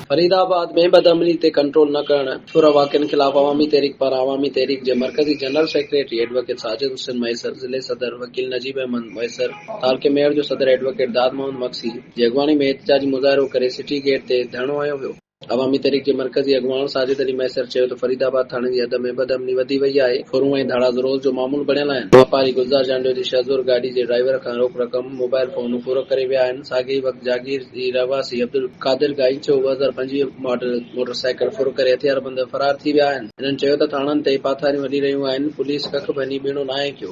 فريد آباد ۾ بدعملي تي ڪنٽرول نه ڪرڻ ڦر واقعن خلاف عوامي تحريڪ پاران عوامي تحريڪ جي مرڪزي general secretary advocate Sajid Hussain Mahesar, ضلعي صدر وڪيل نجيب احمد مهيسر، تعلقي ميڙ جو صدر ايڊووڪيٽ داد محمد مگسي جي اڳواڻي ۾ احتجاجي مظاهرو ڪري سٽي گيٽ تي ڌرڻو هنيو ويو. عوامي تحريڪ جي مرڪزي اڳواڻ ساجد علي مهيسر چيو ته فريد آباد ٿاڻي جي حد ۾ بد امني وڌي وئي آهي، ڦرون ۽ ڌاڙا روز جو معمول بڻيل آهن، واپاري گلزار جانڊيو جي شهزور گاڏي جي ڊرائيور کان روڪ رقم، موبائل فونون ڦر ڪري ويا آهن، ساڳئي ئي وقت جاگير جي رهواسي عبدالقادر گائيچو ٻه هزار پنجويهه ماڊل موٽر سائيڪل ڦر ڪري هٿياربند فرار ٿي ويا آهن، هنن چيو ته ٿاڻن تي پاٿاريون هلي رهيون آهن، پوليس ڪک ڀڃي ٻيڻو ناهي ڪيو.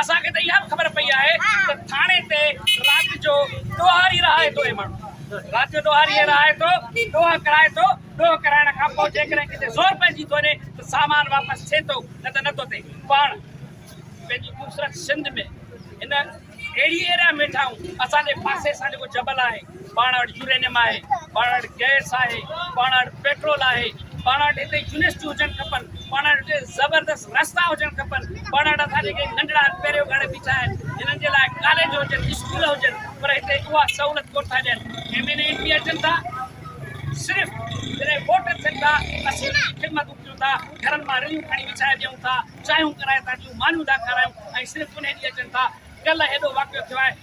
اسان کي ته اها به خبر پئي آهي ته ٿاڻي تي رات جو ڏوهاري رهائي ٿو اي ماڻهو رات جو ڏوهاري رهائي ٿو ڏوهه ڪرائي ٿو ڏوهه ڪرائڻ کان پوء جيڪڏهن ڪٿي زور پئجي ٿو وڃي ته سامان واپس ٿئي ٿو نه ته نه ٿو ٿئي پاڻ پنهنجي خوبصورت سنڌ ۾ هن اهڙي اهڙا ميٺائون اسان جي پاسي سان جيڪو جبل آهي پاڻ وٽ يورينيم آهي، پاڻ وٽ گئس آهي، پاڻ وٽ پيٽرول آهي، پاڻ وٽ هتي يونيورسٽيون هجڻ کپن، پاڻ وٽ هتي زبردست رستا هجڻ کپن، پاڻ وٽ اسان جي ڪي ننڍڙا پهريو گهڙي بيٺا آهن جنهن جي لاء ڪاليج هجن، اسڪول هجن پر هتي اها سهولت ڪونه ٿا ڏين. M N A M P اچن ٿا صرف جڏهن ووٽ ٿين ٿا اسين انهن جون خدمتون ڪيون ٿا، گهرن مان رليون کڻي وڇائي ڏيون ٿا، چانهيون ڪرائي ٿا ڏيون، مانيون ٿا کارائيون ۽ صرف انهي ڏينهن اچن ٿا. ڪلهه هيڏو واقعو ٿيو آهي.